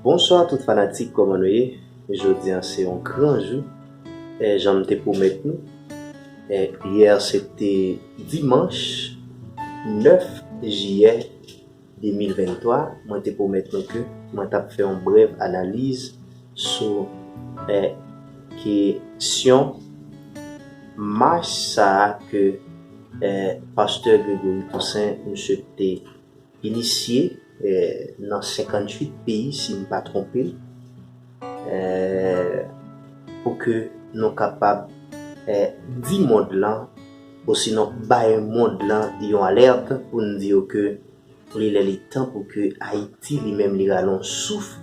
Bonswa tout fanatik kòman nou ye jodi an se yon gran jou janm te pwomèt nou yè se te dimanch 9 jiyè 2023 mwen te pwomèt nou ke mwen tap fè yon brèv analiz sou kesyon mach sa ke pastè Gregory Toussaint misye te Inisye nan 58 peyi si m pa twonpe pou ke nou kapab di mond lan osinon bay mond lan yon alerte pou n di yo ke li lè li tan pou ke Ayiti li menm li rale yon souf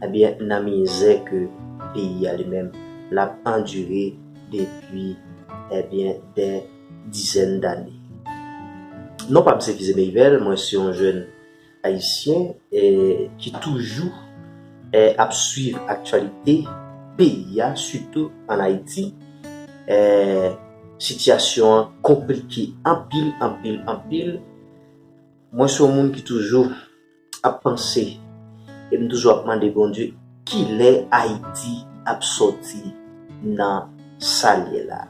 ebyen nan mizè ke peyi a li menm l ap andire depi ebyen dè dizèn dane. Non pa m se Kizé Meyvel, mwen se yon jèn ayisyen ki toujou ap swiv aktyalite peyi a sitou an Ayiti. Sitiyasyon an konplike anpil, anpil, anpil. Mwen se yon moun ki toujou. ap panse e m toujou ap mande Bondye kilè Ayiti ap sòti nan sa l ye la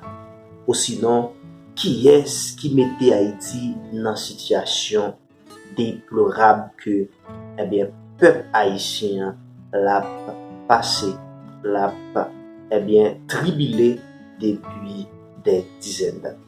osinon kiyès ki mete Ayiti nan sitiyasyon deplorab ke ebyen pèp ayisyen an l ap pase l ap ebyen tribile depi dè dizèn dane.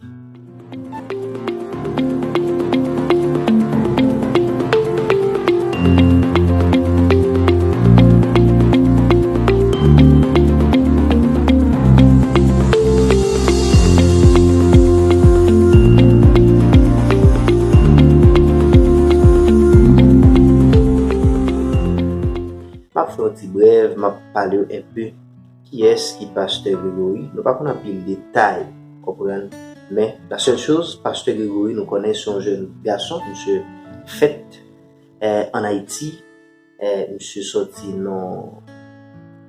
M ap fè yon ti brèv, m ap pale yo enpe. Kiyès ki pastè Gregory? Nou pa konn anpil detay konprann men la sèl choz pastè Gregory nou konnen se yon jèn gason misye fèt an Ayiti misye sòti nan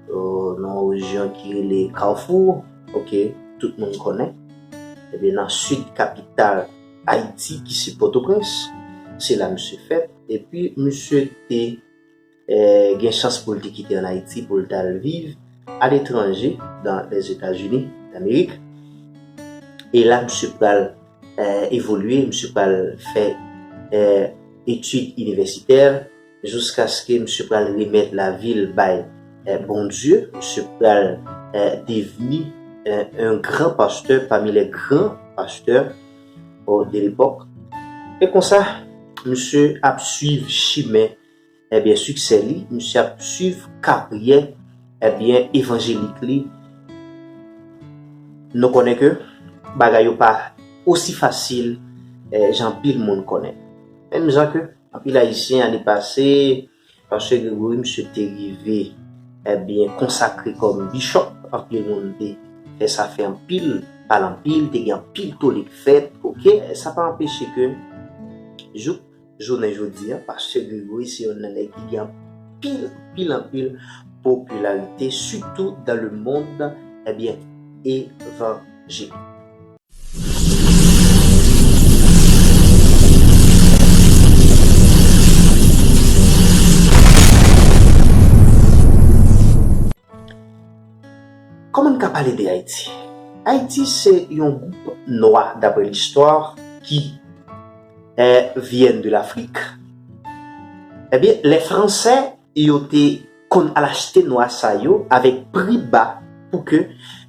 yon rejyon ki rele kawfou ok tout moun konnen ebyen nan sid kapital Ayiti ki se pòtoprens se la misye fèt epi misye te gen chans pou l te kite ann Ayiti pou l t al viv aletranje, dan Lèzetazini Damerik. E la misye pral evolye, misye pral fè etid inivèsitè jouskaske misye pral remèt lavi l bay Bondye. Misye pral devni yon gran pastè pami lè gran pastè de lepòk. E konsa, misye ap suiv chimen. ebyen siksè li misye ap swiv karyè ebyen evanjelik li nou konnen ke bagay yo pa osi fasil jan anpil moun konnen menm jan ke anpil ayisyen ane pase pastè Gregory misye te rive ebyen konsakre kòm bishop anpil moun te fè sa fè anpil pale anpil te gen anpil tolik fèt ok sa pa anpeche ke jouk Jounen jodi a, Pastè Gregory se yonn nan nèg ki gen anpil, anpil, anpil popilarite sitou dan le mond ebyen evanjelik. Kòman n ka pale de Ayiti? Ayiti se yon gwoup nwa dapre listwa ki vièn de Lafrik. Ebyen, lè Fransè yo te konn al achte nwa sa yo avèk pri ba pou ke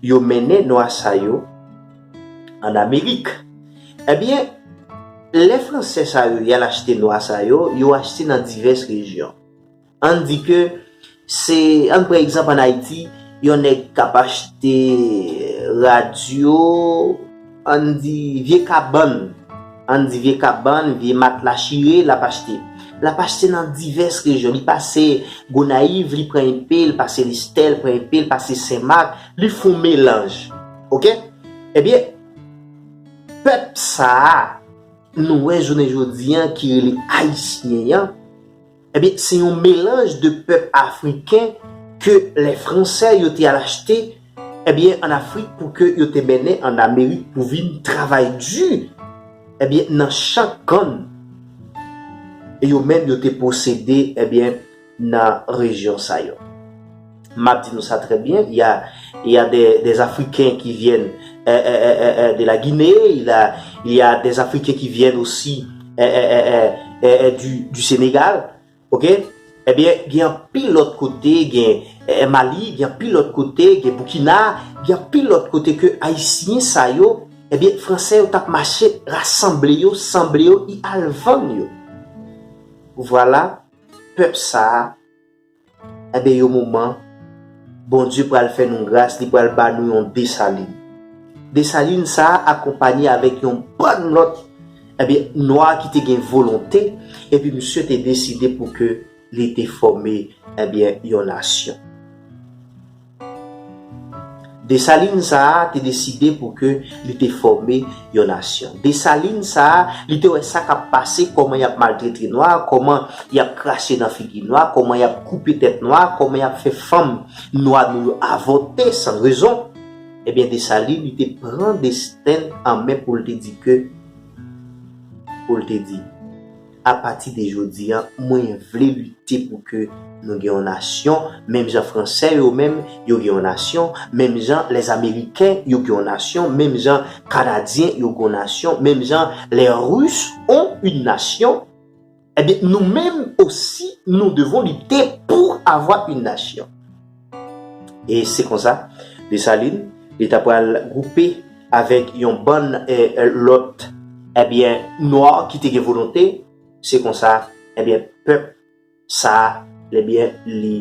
yo mennen nwa sa yo an Amerik. Ebyen, lè Fransè sa yo y al achte nwa sa yo, yo achte nan divès rejyon. Ann di ke se, ann pran egzanp ann Ayiti, yon nèg k ap achte radyo, ann di vye kabann, ann di vye kabann, vye matla chire l ap achte. L ap achte nan divès rejyon. Li pase Gonayiv, li pran enpe, li pase Lestè, li pran enpe, li pase Senmak, li fon melanj. Ok? Ebyen, pèp sa a nou wè jounen jodi an ki rele Ayisyen an, Ebyen se yon melanj de pèp afriken ke lè fransè yo te al achte ebyen an afrik pou ke yo te mennen an amerik pou vin travay di ebyen nan chan kann yo menm yo te posede ebyen nan rejyon sa yo. Map di nou sa trè byen, il ya il ya dè dè afriken ki vyèn è è è è è de la Gine, il ya il ya dè afriken ki vyèn osi è è è è è è di di Senegal ok è byen gen anpil lòt kote gen è è Mali gen anpil lòt kote gen Boukina gen anpil lòt kote ke ayisyen sa yo è byen fransè yo tap mache rasanble yo sanble yo i al vann yo vwala pèp sa Enben yon moman, Bondye pral fè nou gras, li pral ba nou yon Desalin. Desalin sa a akonpanye avèk yon bann lòt, enben, nwa ki te gen volonte, epi misye te deside pou ke li te fòme, enben, yon nasyon. Desalin sa a te deside pou ke li te fòme yon nasyon. Desalin sa a, li te wè sa k ap pase, kòman y ap maltrete nwa, kòman y ap krache nan figi nwa, kòman y ap koupe tèt nwa, kòman y ap fè fanm nwa nou yo avòte san rezon. Ebyen Desalin li te pran desten l an men pou l te di ke, pou l te di. A pati de jodi an, mwen vle lite pou ke nou gen yon nasyon, menm jan Franse yo menm, yo gen yon nasyon, menm jan les Ameriken yo gen yon nasyon, menm jan Kanadyen yo gen yon nasyon, menm jan les Russes ont une nation, ebyen nou menm osi nou devons lutter pour avoir une nation. E se konsa, Desalin, li ta pral gwoupe avèk yon bann lòt, ebyen, nwa ki te gen volonte, se konsa, ebyen, pèp sa a, ebyen, li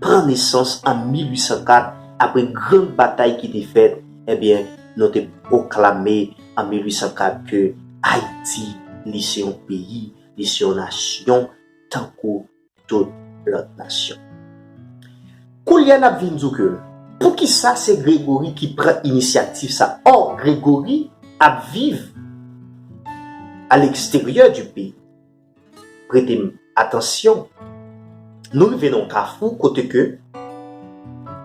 pran nesans an 1804, apre gran batay ki te fèt, ebyen, nou te pwoklame an 1804 ke Ayiti, li se yon peyi, li se yon nasyon, tankou. tout lòt nasyon. Koulye a n ap vin di w ke poukisa se Grégory ki pran inisyativ sa a? Ò, Grégory ap viv a leksteryè di peyi. Prete m atansyon, nou rive nan yon kafou kote ke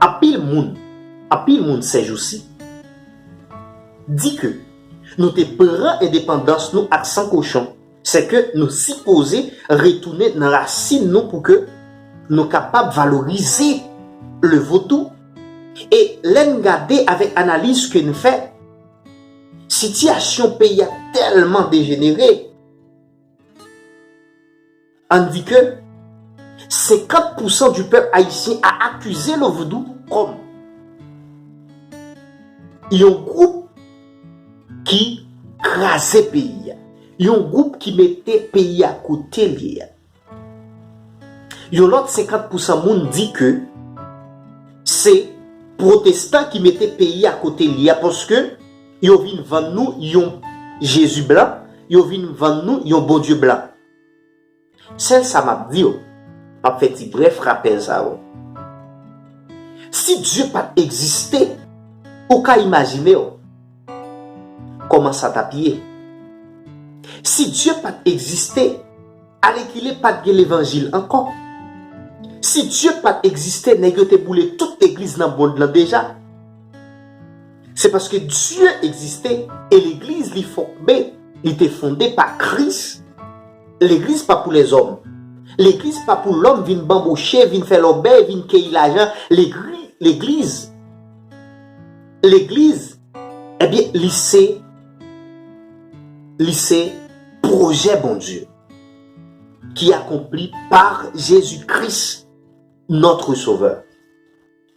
anpil moun, anpil moun sèjousi di ke nou te pran endepandans nou ak san kochon, Se ke nou sipoze retounen nan rasin nou pou ke nou kapab valorize le vodou. E lè n gade avèk analiz ke n fè, sitiyasyon peyi a tèlman dejenere, an n di ke 50 pousan di pèp ayisyen a akize le vodou kòm yon gwoup, Ki kraze peyi a. Yon gwoup ki mete peyi a kote l ye a. Yon lòt 50 pousan moun di ke se pwotestan ki mete peyi a kote l ye a paske yo vin vann nou yon Jezi blan, yo vin vann nou yon Bondye blan. Sèl sa map di yo, map fè ti brèf rapèl sa yo. Si Dye pat egziste, ou ka imajine w kòman sa tap ye? Si Dye pat egziste, alèkile pat gen levanjil ankò. Si Dye pat egziste nèg yo te boule tout legliz nan mond lan deja. Se paske Dye egziste e legliz li fòkbe, li te fonde pa Kris. Legliz pa pou lèzòm. Legliz pa pou lòm vin banboche, vin fè lòbèy, vin keyi lajan. Legri, legliz, legliz, ebyen, li se, li se pwojè Bondye ki akonpli par Jezi Kris, notre Sovè.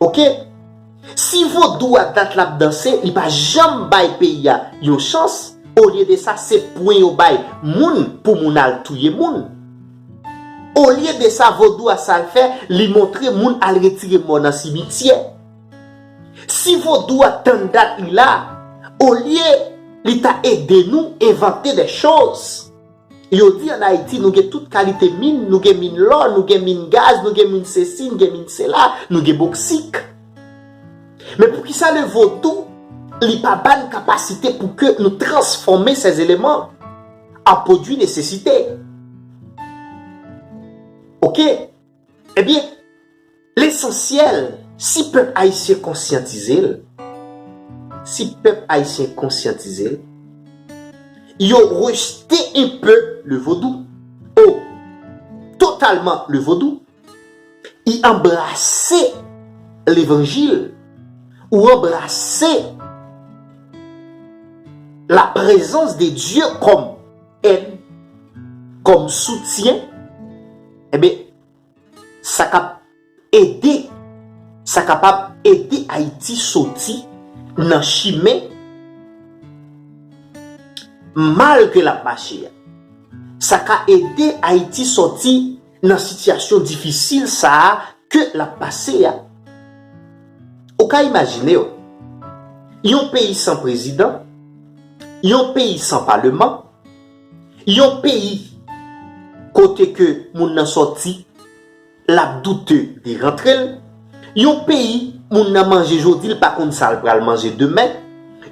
Ok si vodou a dat lap danse li pa janm bay peyi a yon chans olye de sa se pwen yo bay moun pou moun al touye moun olye de sa vodou a sal fè li montre moun al retire mò nan simityè si vodou a tann dat li la olye li ta ede nou envante de choz. Yo di an Ayiti nou gen tout kalite min, nou gen min lò, nou gen min gaz, nou gen min sesi, nou gen min sela, nou gen boksik. Men poukisa le vodou li pa ba n kapasite pou ke nou transfòme sè zeleman an pwodui nesesite? Ok. Ebyen. Lesansyèl, si pèp ayisyen konsyantize l, si pèp ayisyen konsyantize l, yo rejte un peu le vodou, ou totalman le vodou, y anbrase levanjil, ou anbrase la prezans de Dye kòm èd, kòm soutyen, enben, Sa kap ede Sa kapab ede Ayiti soti nan chimen mal ke l ap mache a. Sa ka ede Ayiti soti nan sitiyasyon difisil sa a ke l ap pase a. Ou ka imajine w, yon peyi san prezidan, yon peyi san paleman, Yon peyi kote ke moun nan sòti, l ap doute de rantre l, yon peyi moun nan manje jodi l pa konn sa l pral manje demen,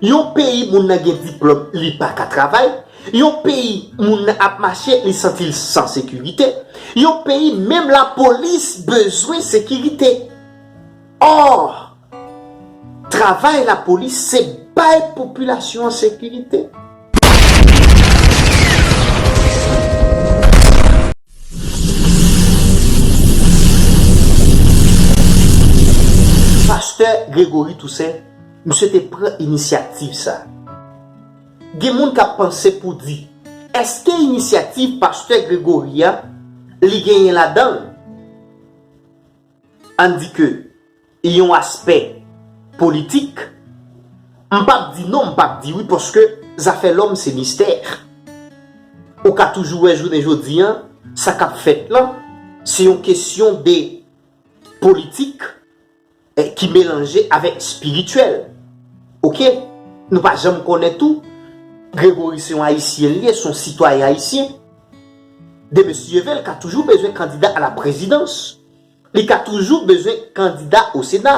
yon peyi moun nan gen diplòm li pa ka travay, yon peyi moun nan ap mache li santi l san sekirite, yon peyi menm lapolis bezwen sekirite. Or, travay lapolis se bay popilasyon an sekirite. Pastè Gregory Toussaint, misye te pran inisyativ sa. Gen moun k ap panse pou di, èske inisyativ pastè Gregory a, li genyen ladan l? Ann di ke yon aspè politik, m pap di non m pap di wi paske zafè lòm se mistè. Ou ka toujou wè jounen jodi an sa kap fèt lan se yon kesyon de politik ki melanje avèk espirityèl ok. Nou pa janm konnen tou Grégory se yon ayisyen li ye, se yon sitwayen ayisyen. de Mesye Jevel ka toujou bezwen kandida a la prezidans, li ka toujou bezwen kandida o Sena,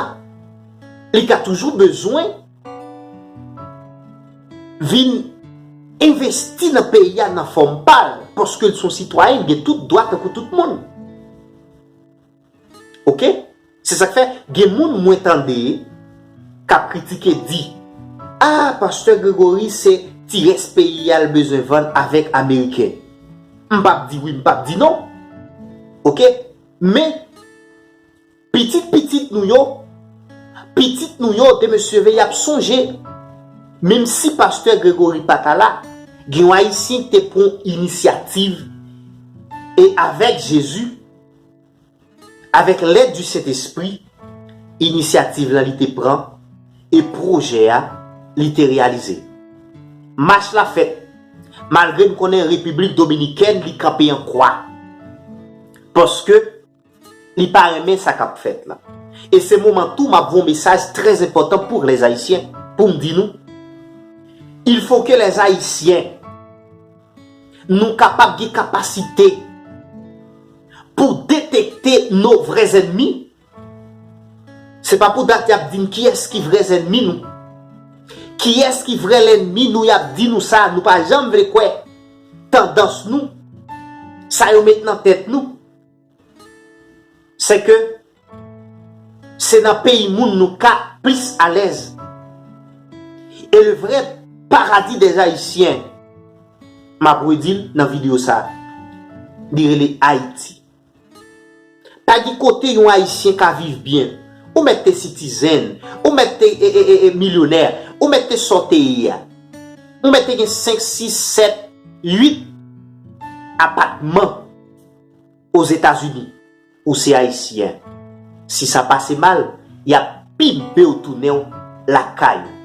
li ka toujou bezwen vin envesti nan peyi a nan fòm pa l, paske l son sitwayen, l gen tout dwa tankou tout moun. Ok se sak fè gen moun mwen tande kap kritike di ah pastè Gregory se ti rès peyi a l bezwen vann avèk ameriken m pap di wi m pap di non ok men pitit pitit nou yo pitit nou yo de mesye ve yap sonje menm si pastè Gregory pata la gen yon ayisyen ki te pran inisyativ e avèk jezi Avèk lèd di Sentespri, inisyativ la li te pran e pwojè a li te reyalize. Mach la fèt, malgre n konnen Repiblik Dominikèn li kanpe an kwa, paske li pa renmen sa k ap fèt la. E se moman tou m ap voun mesaj trè enpòtan pour les Haïtiens, pou m di nou, il faut que les Haïtiens, Nou kapab gen kapasite pou detekte no vrè zènmi. Se pa pou dat y ap di n kiyès ki vrè zènmi nou. Kiyès ki vrè lènmi nou y ap di nou sa nou pa janm vle kwè. Tandans nou. Sa yo met nan tèt nou. Se ke se nan peyi moun nou ka plis alèz. E le vrè paradi dè Ayisyen, m ap redi l nan videyo sa, li rele Ayiti. Pa gen kote yon Ayisyen ka viv byen. Ou mèt te sitizen, ou mèt te milyonè, ou mèt te sa w te ye a. Ou mèt te gen 5, 6, 7, 8 apatman. Ozetazini, ou se Ayisyen, si sa pase mal, y ap pinpe w tounen w lakay ou.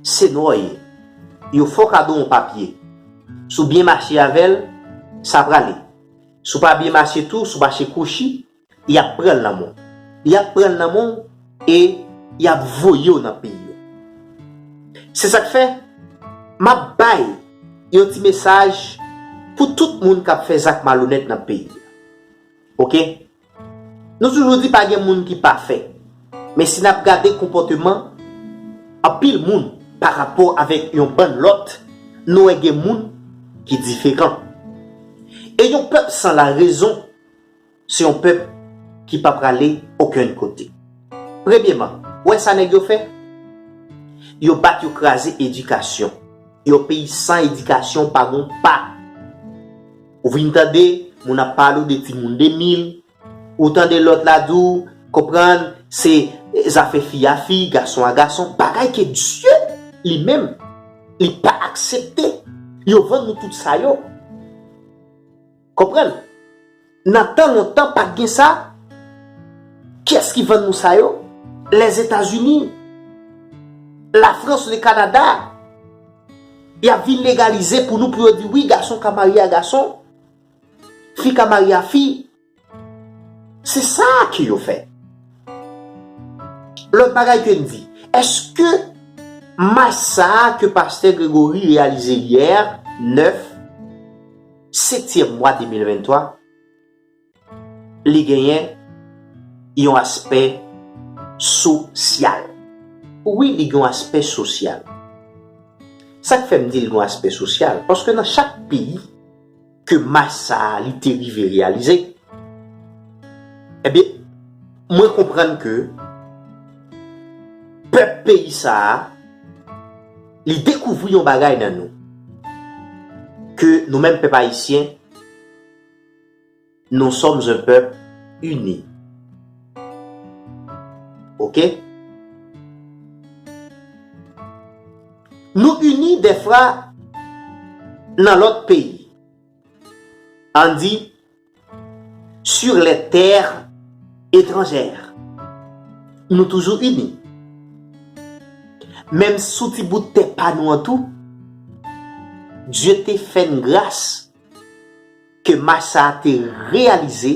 Se nò w ye. Yo fòk a don w papye. Si w byen mache avè l, sa prale. Si w pa byen mache tou, si w mache kwochi, y ap pran nan men w. Y ap pran nan men w e y ap voye w nan peyi yo. Se sa k fè, m ap bay yon ti mesaj pou tout moun k ap fè zak malonèt nan peyi a. Oke? Nou toujou di pa gen moun ki pafè. Men si n ap gade konpòteman anpil moun parapò avèk yon bann lòt, nou wè gen moun ki diferan. E yon pèp san larezon. Se yon pèp ki pa prale okenn kote. Premyeman, ou wè sa nèg yo fè? Yo bat yo kraze edikasyon. Yon peyi san edikasyon pa gon pa. Ou vin tande moun ap pale w de timoun 2000, ou tande lòt la di w, konprann, se zafè fi a fi, gason a gason, bagay ke Dye li menm li pa aksepte. Yo vann nou tout sa yo. Konprann? Nan tan lontan pat gen sa, kiyès ki vann nou sa yo? Lèzetazini, Lafrans, Lekanada. Yap vin legalize pou nou pou yo di wi gason ka marye a gason, fi ka marye a fi. Se sa ke yo fè. Lòt bagay ke n di, èske mach sa a ke pastè Gregory reyalize yè 9, setyèm mwa 2023, li genyen yon aspè sosyal. Wi li gen yon aspè sosyal. Sa k fè m di l gen yon aspè sosyal? Paske nan chak peyi ke mach sa a li te rive reyalize, ebyen mwen konprann ke pèp peyi sa a, Li dekouvri yon bagay nan nou. Ke nou menm pèp ayisyen, nous sommes un peuple uni. Ok? Nou uni dèfra nan lòt peyi. An di, Sur lè tèr etranjèr nou toujou ini menm sou ti bout tè pa nou an tou Dye te fè n gras ke mach sa a te reyalize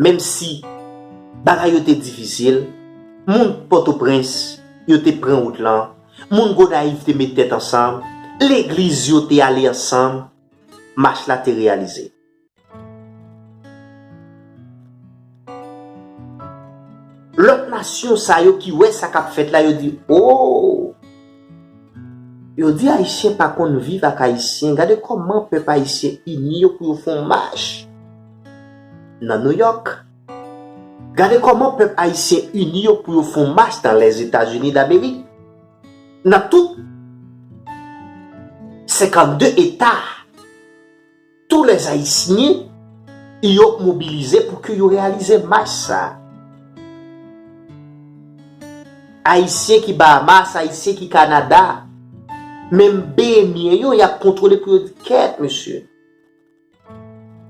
menm si bagay yo te difisil moun pòtoprens yo te pran wout lan moun gonayiv te met tèt ansanm legliz yo te ale ansanm mach la te reyalize. Lòt nasyon sa yo ki wè sa k ap fèt la yo di, Ooo! Yo di Ayisyen pa konn viv ak Ayisyen, gade kòman pèp Ayisyen ini yo pou yo fè yon mach nan Nouyòk, gade kòman pèp Ayisyen ini yo pou yo fè yon mach nan Lèzetazini Damerik. Nan tout 52 eta a, tou lè Ayisyen yo mobilize pou ke yo reyalize mach sa a. Ayisyen ki Bahamas, Ayisyen ki Kanada, menm benyen yo, y ap kontwole pou yo di kèt mesye.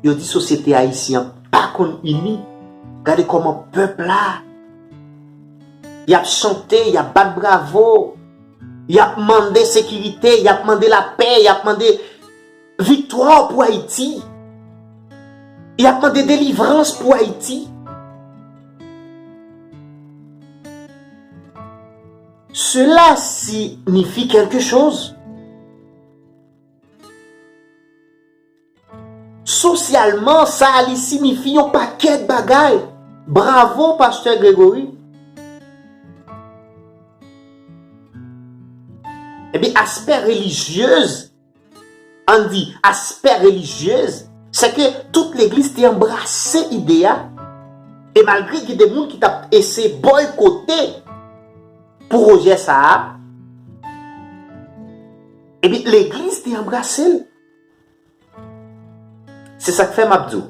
Yo di sosyete ayisyen an pa konn ini. Gade kòman pèp la, y ap chante, y ap bat bravo, y ap mande sekirite, y ap mande lapè, y ap mande viktwa pou Ayiti, y ap mande delivrans pou Ayiti. Sela sinifi kèlke choz. Sosyalman sa a li sinifi yon pakèt bagay. Bravo Pastè Gregory. Ebyen aspè relijyez, ann di aspè relijyez, se ke tout legliz te anbrase ide a e malgre gen de moun ki t ap eseye boykote pwojè sa a, Epi legliz te anbrase l. Se sa k fè m ap di w,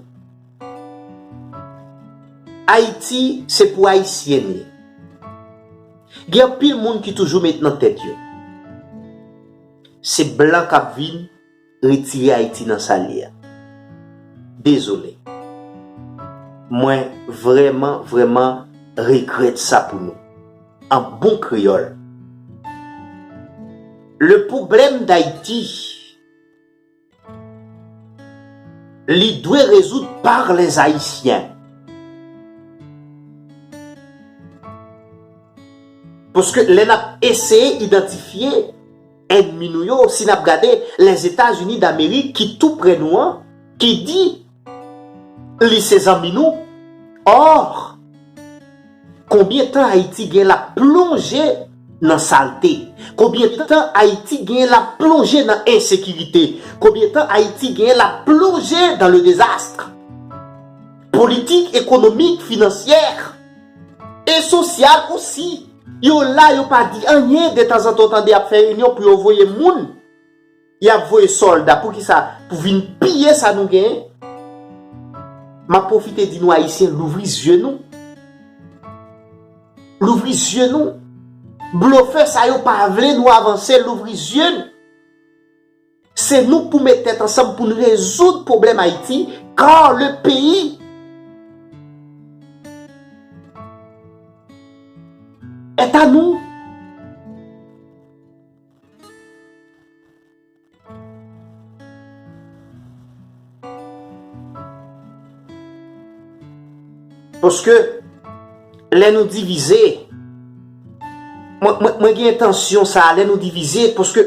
Ayiti se pou Ayisyen l ye. Gen anpil moun ki toujou met nan tèt yo, se blan k ap vin retire Ayiti nan sa l ye a. Dezole. Mwen vrèman, vrèman regrèt sa pou nou. An bon kreyòl. Le pwoblèm d'Ayiti, li dwe rezoud par les Haïtiens. Paske lè n ap eseye idantifye. Ènmi nou yo, si n ap gade Lèzetazini Damerik ki tou prè nou an, ki di li se zanmi nou, or, konbyen tan Ayiti gen l ap plonje nan salte, konbyen tan Ayiti gen l ap plonje nan ensekirite, konbyen tan Ayiti gen l ap plonje dans le désastre politik, ekonomik, financier. E sosyal osi. Yo la yo pa di anyen detanzantan w tande y ap fè reynyon pou yo voye moun. Y ap voye sòlda poukisa pou vin piye sa nou genyen. M ap pwofite di nou Ayisyen louvri zye nou. Louvri zye nou. Blofè sa yo pa vle nou avanse louvri zye n. Se nou pou met tèt ansanm poun rezoud pwoblèm Ayiti car le peyi. Est a nou. Paske lè nou divize mwen gen entansyon sa lè nou divize paske.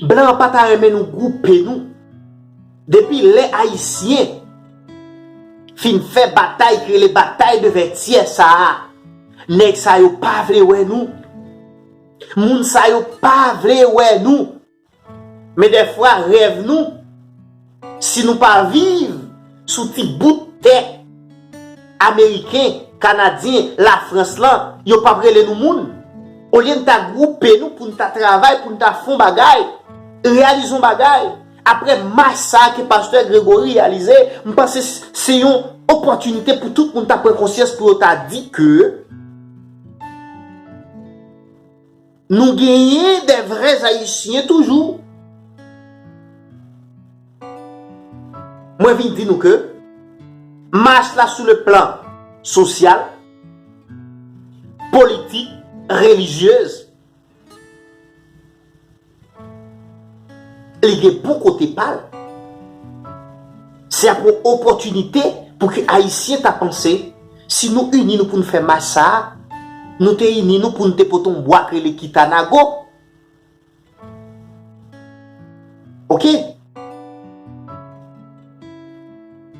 Blan an pa ta renmen nou gwoupe nou. Depi lè Ayisyen fin fè batay ki rele batay de Vètyè sa a, nèg sa yo pa vle wè nou. Moun sa yo pa vle wè nou. Men dèfwa rèv nou. Si nou pa viv sou ti bout tè ameriken, kanadyen, lafrans lan, yo pap rele nou moun. Olye n ta gwoupe nou pou n ta travay, pou n ta fon bagay, reyalize yon bagay, apre mach sa a ke pastè Gregory reyalize, m panse se yon opòtinite pou tout moun ta pran konsyans pou yo ta di ke. Nou genyen de vrè ayisyen toujou. Mwen vin di nou ke mach la sou le plan sosyal, politik, relijyez, li gen bon kote pa l. Se ap yon opòtinite pou ke ayisyen ta panse Si nou ini nou poun fè mach sa a, nou te ini nou poun te pote yon bwa k rele kitanago. Ok.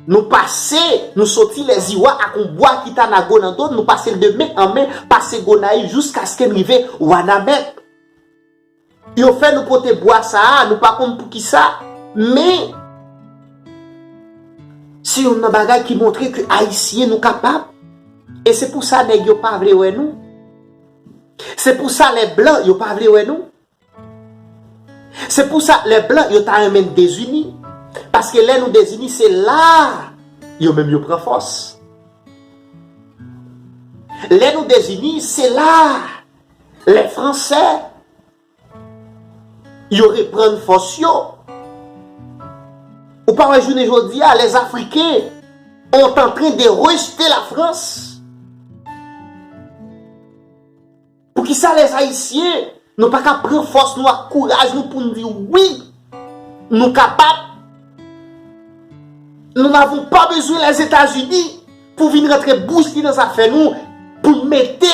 Nou pase, nou soti lèziwa ak yon bwa kitanago nan do n, nou pase l de men an men, pase Gonayiv jouskaske n rive wanament. Yo fè nou pote bwa sa a, nou pa konn poukisa, men se youn nan bagay ki montre ke Ayisyen nou kapab, e se pou sa nèg yo pa vle wè nou, se pou sa lè blan yo pa vle wè nou, se pou sa lè blan yo ta renmen n dezini, paske lè nou dezini se la a yo menm yo pran fòs. Lè nou dezini se la a. Lè Franse yo reprann fòs yo, ou pa wè jounen jodi a les Afriken ont antre de rejte la Frans. Pou ki sa les Ayisyen nou pa ka pran fòs nou ak kouraj nou pou n di wi nou kapab, nou n'avons pas besoin les Etats-Unis pou vin rantre bouch li nan zafè nou pou mete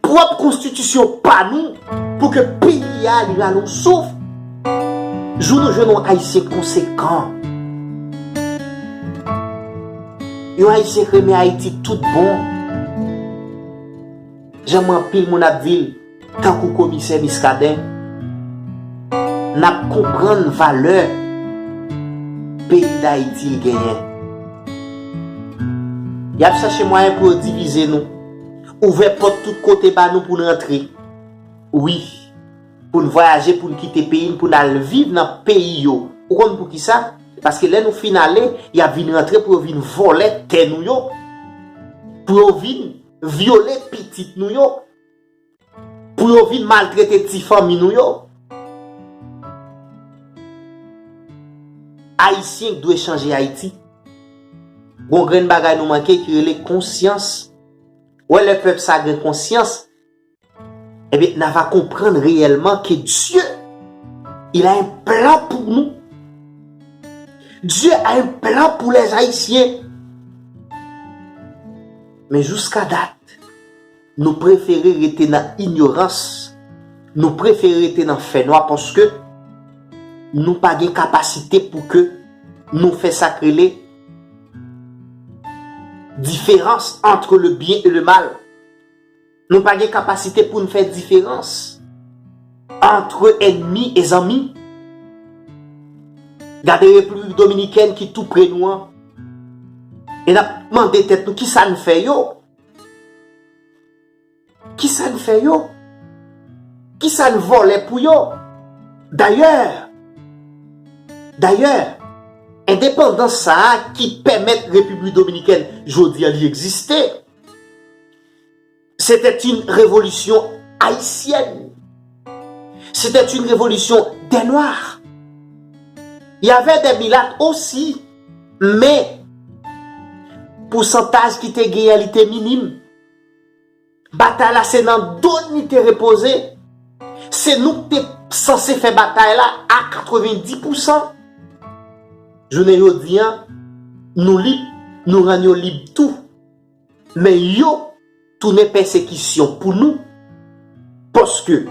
Pwòp konstitisyon pa nou pou ke peyi a li rale yon souf jou nou jwenn yon Ayisyen konsekan. Yon Ayisyen k renmen Ayiti tout bon. Janm anpil moun ap di l tankou komisè Miskaden n ap konprann valè peyi Dayiti l genyen. Y ap chache mwayen pou yo divize nou. Ouvè pòt tout kote ba nou pou n rantre. Wi. Pou n vwayaje, pou n kite peyi n, pou n al viv nan peyi yo. Ou konn poukisa? Paske lè nou fin ale, y ap vin rantre pou yo vin vòlè tè nou yo, pou yo vin vyole pitit nou yo. Pou yo vin maltrete ti fanmi nou yo. Ayisyen k dwe chanje Ayiti. Gon grenn bagay nou manke ki rele konsyans. Wè lè pèp sa gen konsyans ebyen na va konprann reyèlman ke Dye il a un plan pour nous. Dye a un plan pou lèzayisyen. Men jouska dat. Nou prefere rete nan inyorans, nou prefere rete nan fènwa paske nou pa gen kapasite pou ke nou fè sa k rele diferans antre le byen e le mal. Nou pa gen kapasite pou n fè diferans antre ènmi e zanmi. Gade Repiblik Dominikèn ki tou pre nou an e n ap mande tèt nou kisa n fè yo? Kisa n fè yo? Kisa n vòlè pou yo? Dayè, dayè, endepandans sa a ki pèmèt Repiblik Dominikèn jodi an li egziste, se tè t yn revolisyon ayisyèn, se tè t yn revolisyon dè nwa, y avè dè milat osi. Men, pousantaj ki te genyen li te minim. Batay la se nan do n li te repoze. Se nou ki te sanse fè batay la a 90 pousan. Jounen jodi an, nou lib, nou rann yo lib tou. Men yo tounen pèsekisyon pou nou, paske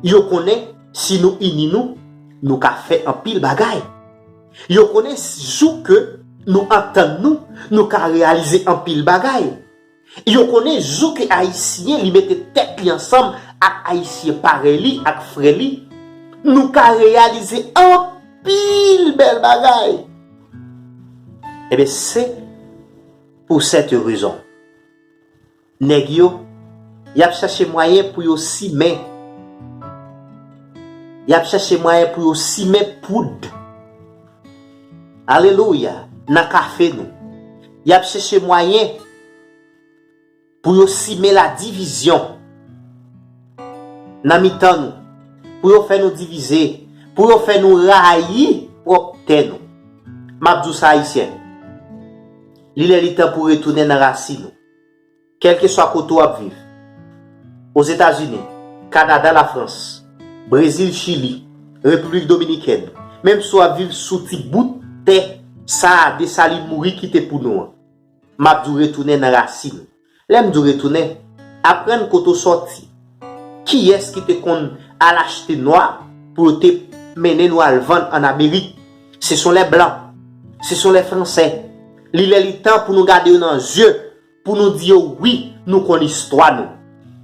yo konnen si nou ini nou, nou ka fè anpil bagay. Yo konnen jou ke nou antann nou, nou ka reyalize anpil bagay. Yo konnen jou ke Ayisyen li mete tèt li ansanm ak Ayisyen parèy li, ak frè li, nou ka reyalize anpil bèl bagay. Enben se. Pou sète rezon, nèg yo, y ap chache mwayen pou yo simen, y ap chache mwayen pou yo simen poud, alelouya, nan kafe nou. Y ap chache mwayen. Pou yo simen la divizyon nan mitan nou, pou yo fè nou divize, pou yo fè nou rayi pwòp tè nou. M ap di w sa Ayisyen, li lè li tan pou w retounen nan rasin ou. Kèlkeswa kote w ap viv, Ozetazini, Kanada, Lafrans, Brezil, Chili, Repiblik Dominikèn, menm si w ap viv sou ti bout tè sa a Desalin mouri kite pou nou an, M ap di w retounen nan rasin. Lè m di w retounen, aprann kote w sòti. Kiyès ki te konn al achte nwa pou yo te mennen nou al vann ann Amerik? Se son lè blan. Se son lè franse. Li lè li tan pou nou gade yo nan zye, pou nou di yo wi nou konn istwa nou.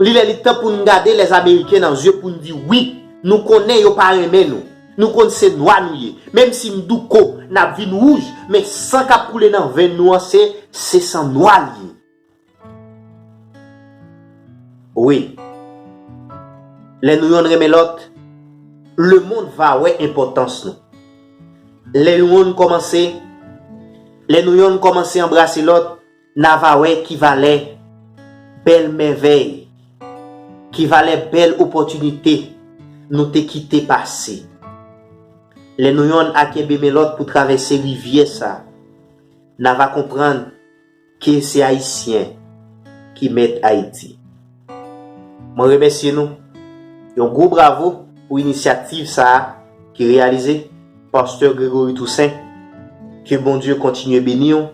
Li lè li tan pou n gade lè ameriken nan zye pou n di wi, nou konnen yo pa renmen nou, nou konn se nwa nou ye, menm si n douko, n ap vin wouj, men san k ap koule nan venn nou an se, se san nwa li ye. Wi, lè nou yonn renmen lòt, lemond va wè enpòtans nou. Lè yon kòmanse, lè nou yonn kòmanse anbrase lòt, Na va wè ki valè bèl mèvèy, ki valè bèl opòtinite nou te kite pase. Lè nou yonn a kenbe men lòt pou travèse rivyè sa, na va konprann ke se Ayisyen ki mèt Ayiti. Mwen remèsye nou. Yon gwo bravo pou inisyativ sa a ki reyalize, Pasteur Gregory Toussaint. Ke Bondye kontinye beni w.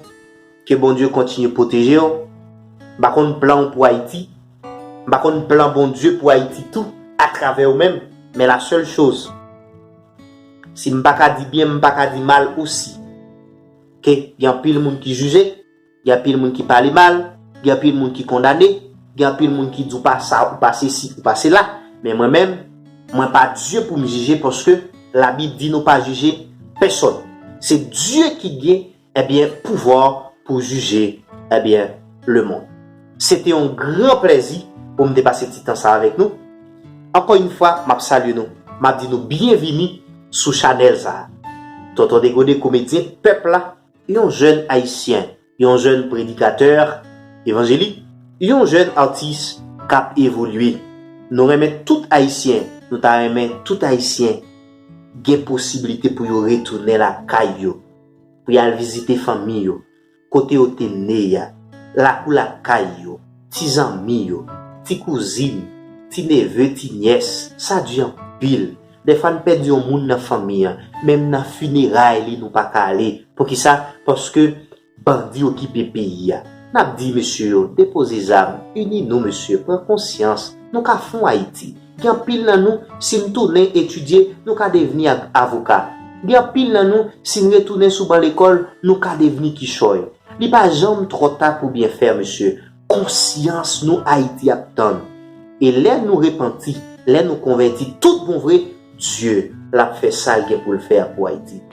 Ke Bondye kontinye pwoteje w. M pa konn plan w pou Ayiti. M pa konn plan Bondye pou Ayiti tou atravè ou menm. Men la sèl choz. Si m pa ka di byen, m pa ka di mal osi. Ke gen anpil moun ki jije, gen anpil moun ki pale mal, gen anpil moun ki kondane, gen anpil moun ki di w pa sa, ou pa sesi, ou pa sela. Men mwen menm, mwen pa Dye pou m jije paske Labib di nou pa jije pèsòn. Se Dye ki gen Ebyen pouvwa pou jije ebyen le mond. Se te yon gran plèzi pou m te pase ti tan sa avèk nou. Ankò yn fwa m ap salye nou, m ap di nou byenvini sou chanèl sa. Tonton Degode komedyen pèp la, yon jèn ayisyen, yon jèn predikatè evanjelik, yon jèn atis k ap evolye. Nou renmen tout ayisyen, nou ta renmen tout ayisyen gen posiblite pou yo retounen lakay yo. pou y al vizite fanmi yo, kote yo te ne a, lakou lakay yo, ti zanmi yo, ti kouzin, ti neve, ti nyès. Sa di anpil. Dèfwa n pèdi yon moun nan fanmi an, menm nan fineray li nou pa ka ale. Poukisa? Paske bandi okipe peyi a. N ap di mesye yo, depoze zam, ini nou mesye, pran konsyans, nou ka fon Ayiti. Gen anpil nan nou, si n tounen etidye, nou ka devni avoka. Gen anpil nan nou, si n retounen sou ban lekòl, nou ka devni kichòy. Li pa janm twò ta pou byen fè, mesye. Konsyans nou Ayiti ap tann. E lè nou repanti, lè nou konvèti tout bon vre, Dye, l ap fè sa l gen pou l fè a pou Ayiti.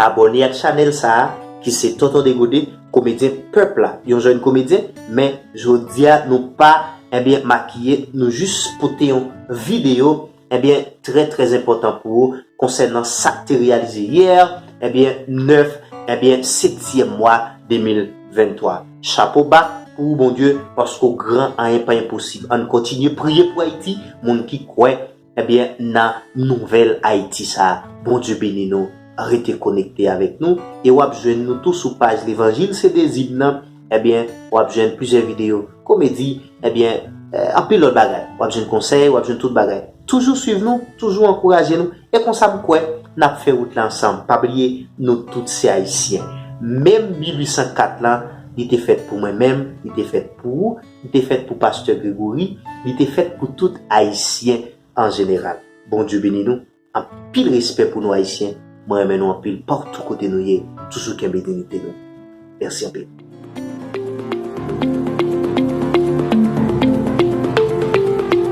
Abòne ak chanèl sa a ki se Tonton Degode komedyen pèp la yon jèn komedyen men jodia nou pa ebyen makiye nou jis pote yon video ebyen trè trè enpòtan pou ou konsènan sak te reyalize yè ebyen 9 ebyen septyèm mwa 2023 chapo ba pou ou Bondye paske w gran anyen pa enposib ann kontinye priye pou Ayiti moun ki kwè Ebyen nan nouvèl Ayiti sa a Bondye beni nou rete konekte avèk nou e wap jwenn nou tou sou paj levanjil se dezi m nan ebyen wap jwenn plizyè videyo komedi ebyen anpil lòt bagay wap jwenn konsèy wap jwenn tout bagay toujou swiv nou toujou ankouraje nou e konsa m kwè nap fè wout la ansanm pa bliye nou tout se ayisyen menm 1804 lan li te fèt pou mwen menm li te fèt pou ou. Li te fèt pou Pastè Gregory, li te fèt pou tout Ayisyen an jeneral. Bondye beni nou. Anpil respè pou nou Ayisyen, mwen renmen nou anpil partou kote nou ye, toujou kenbe dinite nou. Mèsi anpil.